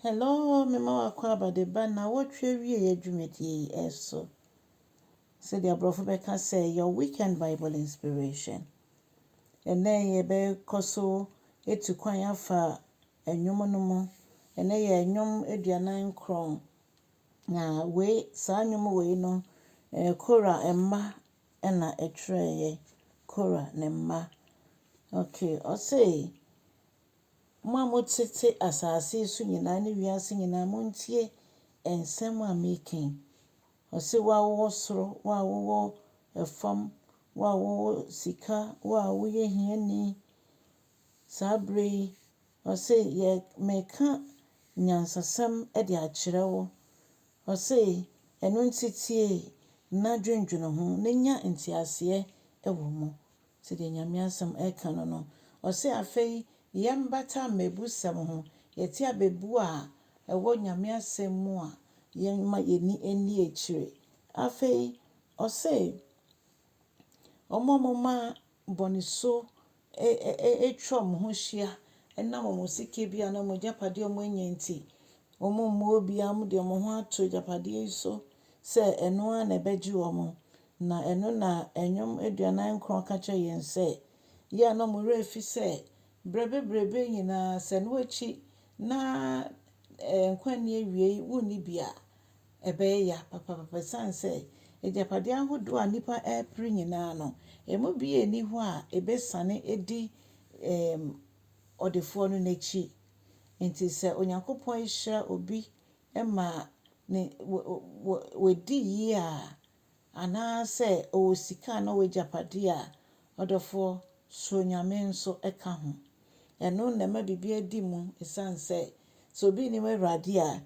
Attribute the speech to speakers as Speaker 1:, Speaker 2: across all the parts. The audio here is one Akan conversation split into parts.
Speaker 1: Hello, mema wo akwaaba de ba nnawɔtwe awieeɛ dwumadie yi so. Sɛdeɛ aborɔfo bɛka sɛ your weekend Bible inspiration. Ɛnnɛ yɛbɛkɔ so atu kwan afa nnwom no mu. Ɛnnɛ yɛ nnwom aduanan nkron. Na wei saa nnwom wei no, eh, Kora mma na ɛtwerɛeɛ. Kora ne mma. Okay, ɔse Mo a motete asase so nyinaa ne wiase nyinaa, montie nsɛm a mereka yi. Ɔse, wo a wowɔ soro, wo a wowɔ fam, wo a wowɔ sika, wo a woyɛ hiani, saa berɛ yi, ɔse, yɛ, mereka nyansasɛm de akyerɛ wo. Ɔse, ɛno nti tie na dwendwene ho, na nya nteaseɛ wɔ mu. Sɛdeɛ Nyame asɛm ɛka no no, ɔse, Afei yɛmbata mmɛbusɛm ho, yɛte abɛbuo a ɛwɔ Nyame asɛm mu a, yɛmma yɛni nni akyire. Afei ɔse, Wɔn a wɔma bɔnesuo atwa wɔn ho ahyia ɛnam wɔn sikabia anaa wɔn agyapadeɛ a wɔn anya nti, wɔmmua obiara, wɔde wɔn ho ato agyapadeɛ yi so sɛ ɛno ara na ɛbɛgye wɔn, Na ɛno na Nnwom aduanan nkron ka kyerɛ yɛn sɛ yɛn a na wɔn werɛ afi sɛ berɛ bebrebe nyinaa sɛ ɛno akyi na nkwa nni awiei, wonni bi a, ɛbɛyɛ ya papaapa ɛsiane sɛ agyapadeɛ ahodoɔ a nnipa repere nyinaa no, ɛmu biara nni hɔ a ɛbɛsiane adi ɔdefoɔ no n'akyi. Enti sɛ Onyankopɔn hyira obi ma ne wadi yie a, anaasɛ ɔwɔ sika anaa ɔwɔ agyapadeɛ a, ɔdɔfoɔ, suro Nyame nso ka ho. Ɛno na ɛma biribiara di mu, ɛsiane sɛ, sɛ obi nnim Awurade a,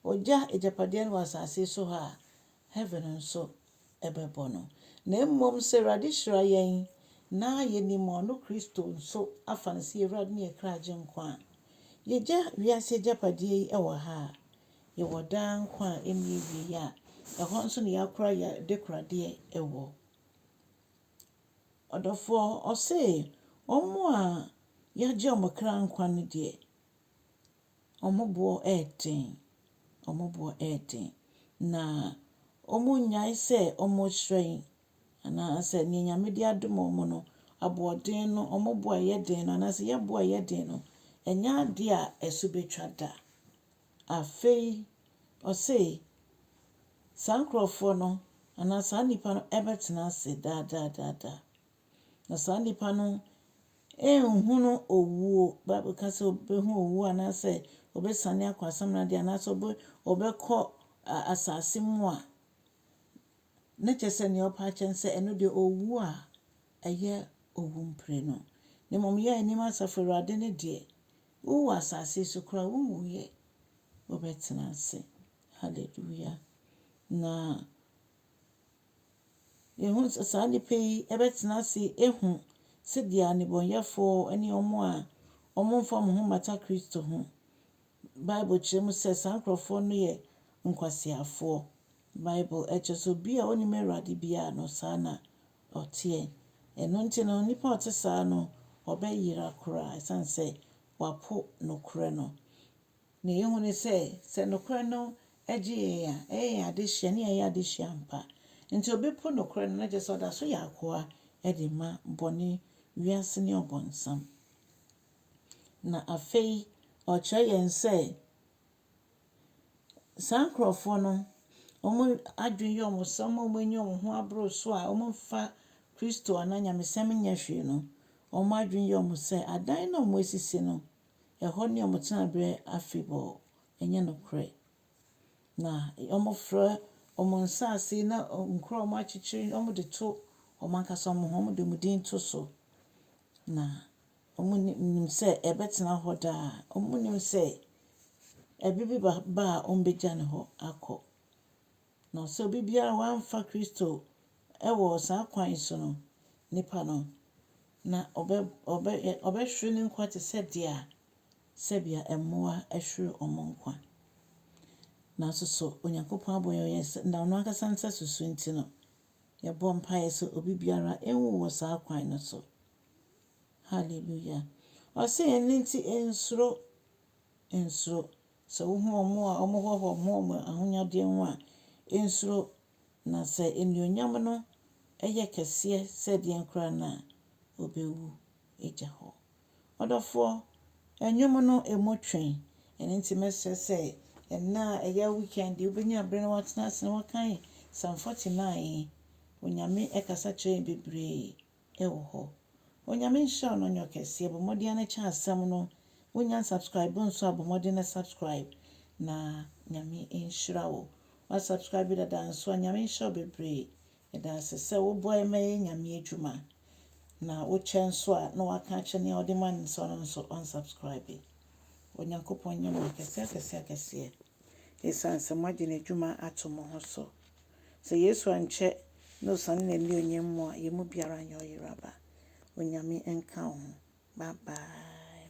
Speaker 1: ɔgya agyapadeɛ no wɔ asase yi so ha a, heaven nso bɛbɔ no. Na mmom sɛ Awurade hyira yɛn na yɛnim ɔno Kristo nso afa no sɛ yɛn Awurade ne yɛn kra Agyenkwa a, yɛgya wiase agyapadeɛ yi wɔ ha a, Yɛwɔ daa nkwa a ɛnni awieeɛ a ɛhɔ nso na yɛakora yɛn adekoradeɛ wɔ. Ɔdɔfoɔ ɔse, wɔn a yɛagye wɔn kra nkwa no deɛ, wɔn boɔ yɛ den, wɔn boɔ yɛ den, na wɔnnyae sɛ wɔrehyerɛn, anaasɛ deɛ Nyame de adom wɔn no, aboɔden no, wɔn bo a ɛyɛ den no, anaasɛ yɛn bo a ɛyɛ den no, ɛnyɛ adeɛ a ɛso bɛtwa da. Afei ɔse, saa nkorɔfoɔ no, anaa saa nnipa no bɛtena ase daa daa daa daa. Na saa nnipa no nnhunu owuo, Bible ka sɛ wɔbɛhunu owuo anaasɛ wɔbɛsiane akɔ asamena deɛ anaasɛ wɔbɛkɔ asase mu a, na kyerɛ sɛ deɛ ɔpa akyɛ no sɛ ɛno deɛ owuo a ɛyɛ owu mprenu. Na mmom yɛn anim asafo Awurade no deɛ, Wowɔ asase so koraa a, wunwuiɛ. Wobɛtena ase. Hallelujah! Na yɛhu sɛ saa nnipa yi bɛtena ase ahu sɛdeɛ nnebɔneyɛfoɔ ne wɔn a wɔmfa wɔn ho mmata Kristo ho. Bible kyerɛ mu sɛ saa nkurɔfoɔ no yɛ nkwaseafoɔ. Bible kyerɛ sɛ obi a ɔnnim Awurade biara no, saa na ɔteɛ. Ɛno nti no, onipa a ɔte saa no, ɔbɛyera koraa ɛsiane sɛ wapo nokorɛ no. Deɛ yɛhu ne sɛ, sɛ nokorɛ no gye yɛn a, ɛyɛ yɛn adesua ne yɛayɛ adesua ampa. Enti obi po nokorɛ no, na kyerɛ sɛ ɔda so yɛ akoa de ma bɔne, wiase ne ɔbonsam. Na afei ɔkyerɛ yɛn sɛ. Saa nkorɔfoɔ no, wɔn adwene yɛ wɔn sɛ wɔn a wɔ'ani wɔn ho aboro so a wɔ'nnfa Christo anaa Nyamesɛm nyɛ hwee no, wɔn adwene yɛ wɔn sɛ adan no a wɔ'asisi no, ɛhɔ ne wɔn tenaberɛ afebɔɔ. Ɛnyɛ nokorɛ. Na wɔ'frɛ wɔn nsaase ne nkuro a wɔ'akyekyere no, wɔ'de to wɔn ankasa wɔn ho, wɔ'de wɔn din to so. Na. Wɔnim sɛ ɛbɛtena hɔ daa. Wɔnim sɛ ɛbɛ bi ba ba a wɔbɛgya no hɔ akɔ. Na sɛ obi biara wamfa Kristo wɔ saa kwan yi so no, nipa no, na ɔbɛ ɔbɛ ɔbɛhwere ne nkwa te sɛ deɛ a sɛdeɛ mmoa hwere wɔn nkwa. Nanso so Onyankopɔn abɔ yɛn yɛn sɛ na ɔno ankasa nsa susu nti no, yɛbɔ mpaeɛ sɛ obi biara nwu wɔ saa kwan no so. Hallelujah. Ɔse ɛno nti nsuro, nsuro. Sɛ wohu wɔn a wɔhoahoa wɔn ho wɔn ahonyadeɛ ho a, nsuro. Na sɛ anuonyam no yɛ kɛseɛ sɛ deɛn koraa no a, ɔbɛwu agya hɔ. Ɔdɔfoɔ, nnwom no ɛmu twe. Ɛno nti mɛsrɛ sɛ ɛnna a ɛyɛ weekend yi wobɛnya berɛ na woatena ase na woakan Psalm 49. Onyame kasa kyerɛ yɛn bebree wɔ hɔ. Onyame nhyira wo na ɔnyɛ wo kɛseɛ. Bɔ mmɔden ara na kyɛ asɛm no. Wo nya unsubscribe nso a bɔ mmɔden na subscribe na Nyame nhyira wo. Wa subscribe dada nso a Nyame nhyira wo bebree. Yɛda ase sɛ wo boa yɛn ma yɛyɛ Nyame adwuma. Na wo kyɛ nso a na waka akyɛ nea ɔde ma no sɛ ɔno nso unsubscribe. Onyankopɔn nyɛ mo akɛseɛ akɛseɛ akɛseɛ. Ɛsiane sɛ mo agye n'adwuma ato mo ho so. Sɛ Yesu ankyɛ na osiane n'anuonyam mu a, yɛn mu biara nyɛ ɔyeraba. Onyame nka wo ho. Bye bye.